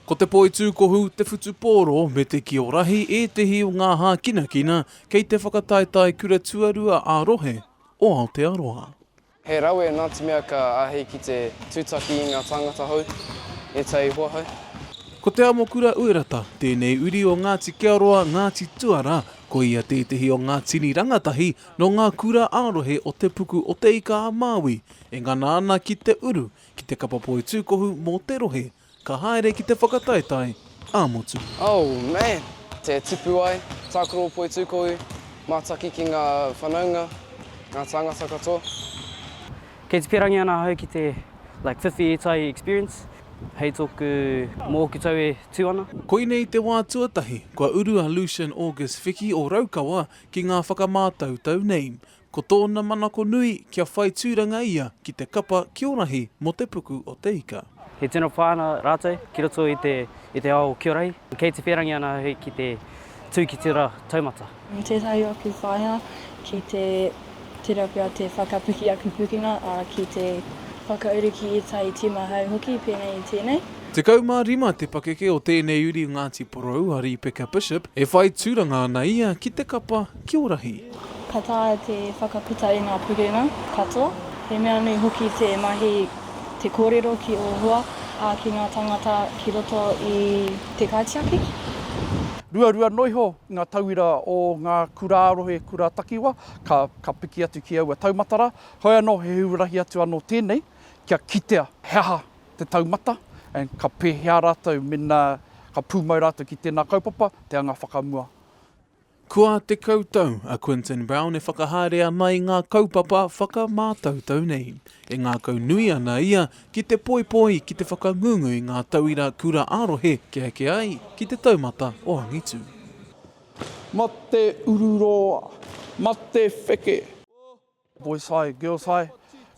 Ko te poitūkohu, te whutupōro me te kio rahi ētehi o ngā hākinakina kei te whakataetae kura tuarua ā-rohe o Aotearoa. He rawe nā te mea ka āhei ki te tūtaki i ngā tāngata hou ētahi hoa hou. Ko Te Amokura Uerata tēnei uri o Ngāti Kearoa, Ngāti Tuara, ko ia tētehi o ngā tini rangatahi nō ngā kura ā-rohe o Te Puku o Te Ika-a-Māui e ngana ana ki te uru ki te kapa poi tūkohu mō te rohe ka haere ki te whakataetae ā-motu. Oh, man! Te tipu ai, tākaro poi tūkohu, mātaki ki ngā whanaunga, ngā tāngata katoa. Kei te pērangi ana ahau ki te like whiwhi ētahi experience hei tōku mōku tau e tū ana. Koinei te wā tuatahi kua uru a Lucian August Whiki o Raukawa ki ngā whakamātautau nei. Ko tōna manako nui kia whai tūranga ia ki te kapa ki o rahi mō te puku o Te Ika. He tino whānau rātou ki roto i te, i te ao ki o rahi. Kei te whērangi ana ahau ki te tū ki te ra taumata. Nō tētahi ōku whaea ki te tera pea te whakapiki aku pukenga, ā, ki te whakauru ki ētahi tīma hou hoki, pēnei i tēnei. Tekau mā rima te pakeke o tēnei uri o Ngāti Porou, a Rīpeka Bishop, e whai tūranga ana ia ki te kapa ki o rahi. Ka taea te whakaputa i ngā purunga katoa. He mea nui hoki te mahi, te kōrero ki ō hoa, ā, ki ngā tāngata ki roto i te kaitiaki. Ruarua noa iho ngā tauira o ngā kura rohe, kura takiwa, ka piki atu ki aua taumata rā. Heoi anō, he huarahi atu anō tēnei kia kitea he aha te taumata, and ka pēhea rātou mēnā ka pūmau rātou ki tēnā kaupapa, te anga whakamua. Kua tekau tau a Quinton Brown e whakahaere ana i ngā kaupapa whakamātautau nei. E ngākau nui ana ia ki te poipoi, ki te whakangungu i ngā tauira kura ā-rohe kia eke ai ki te taumata o angitu. Mate uru roa, mate wheke. Boys High, Girls High,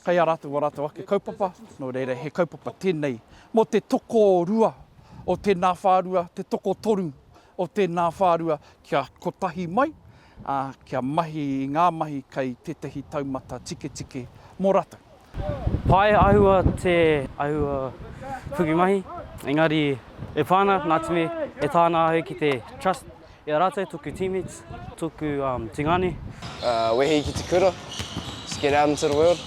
kei a rātou ā rātou ake kaupapa, nō reira he kaupapa tēnei mō te tokorua o tēnā whārua, te tokotoru o tēnā whārua kia kotahi mai, ā, kia mahi i ngā mahi kei tētahi taumata tiketike mō rātou. Pai āhua te āhua whukimahi, engari e pā ana, Ngāti Mee, e tāna āhei ki te Trust, I a ratou toku teammates, toku tingane. Wehi ki te kura, just get out into the world.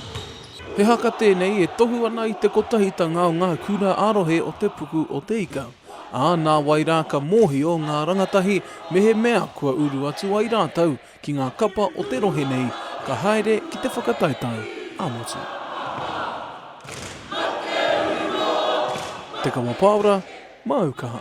He haka tēnei e tohu ana i te kotahitanga o ngā kura ā-rohe o te puku o Te Ika, ā, nāwai rā ka mōhio ngā rangatahi mehemea kua uru atu ai rātou ki ngā kapa o te rohe nei, ka haere ki te whakataetae ā-motu. Te Kawa Paora, Māu Kaha.